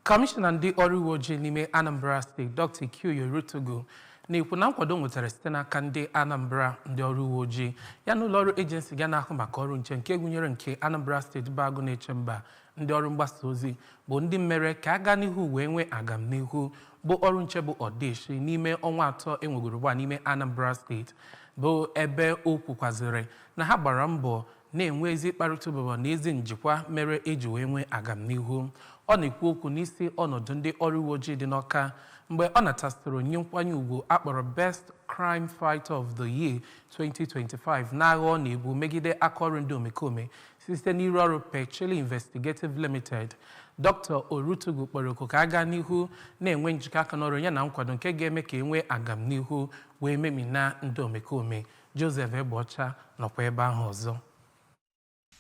Kọmishọna ndị ọrụ uwe ojii n'ime Anambra steeti Dr. Ikioye Orutugu na-ekwu na nkwado nwetara site n'aka ndị Anambra ndị ọrụ uwe ojii ya na ụlọọrụ ejensi ga na-ahụ maka ọrụ nche nke gụnyere nke Anambra steeti bụ agụ na-eche mba ndị ọrụ mgbasa ozi bụ ndị mere ka a gaa n'ihu wee nwee agamnihu bụ ọrụ nche bụ ọdịshi n'ime ọnwa atọ e nwegoro ugbu a n'ime Anambra steeti bụ ebe o kwukwazịrị na ha gbara mbọ na-enwe ezi mkparịta ụbụbọ na ezi njikwa mere e ji wee nwee agamnihu ọ na-ekwu okwu n'isi ọnọdụ ndị ọrụ uwe ojii dị n'Ọka mgbe ọ natasịrị onyinye nkwanye ugwu a kpọrọ best crime fighter of the year 2025 n'agha ọ na-ebu megide aka ọrụ ndị omekome site n'ụlọ ọrụ pechilly investigative limited dr orutugu kpọrọ oku ka a gaa n'ihu na-enwe njikọ aka n'ọrụ ya na nkwado nke ga-eme ka e nwee agamnihu wee memina ndị omekome Joseph Egbeọcha nọkwa ebe ahụ ọzọ.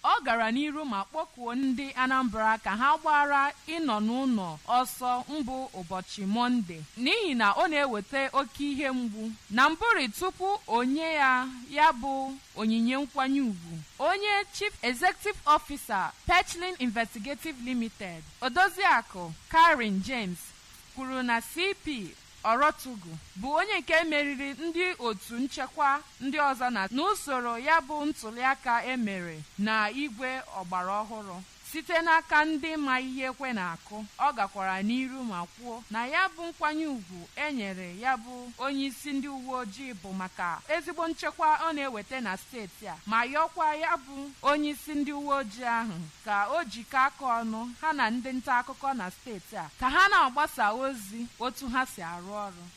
Ọ gara n'iru ma kpọkuo ndị Anambra ka ha gbaara ịnọ n'ụlọ ọsọ mbụ ụbọchị Mọnde n'ihi na ọ na-eweta oke ihe mgbu. Na mbụrị tupu o nye ya ya bụ onyinye nkwanye ugwu, onye Chief Executive Officer Pechilly Investigative Limited, Odoziakụ Karen James kwuru na CP Orutugu bụ onye nke meriri ndị otu nchekwa ndị ọzọ na n'usoro ya bụ ntụliaka e mere na igwe ọgbara ọhụrụ site n'aka ndị ma ihe ekwe na-akụ. Ọ gakwara n'iru ma kwuo na ya bụ nkwanye ugwu e nyere ya bụ onyeisi ndị uweojii bụ maka ezigbo nchekwa ọ na-eweta na steeti a ma yọọkwa ya bụ onyeisi ndị uweojii ahụ ka o jikọ aka ọnụ ha na ndị ntaakụkọ na steeti a ka ha na-agbasa ozi otu ha si arụ ọrụ.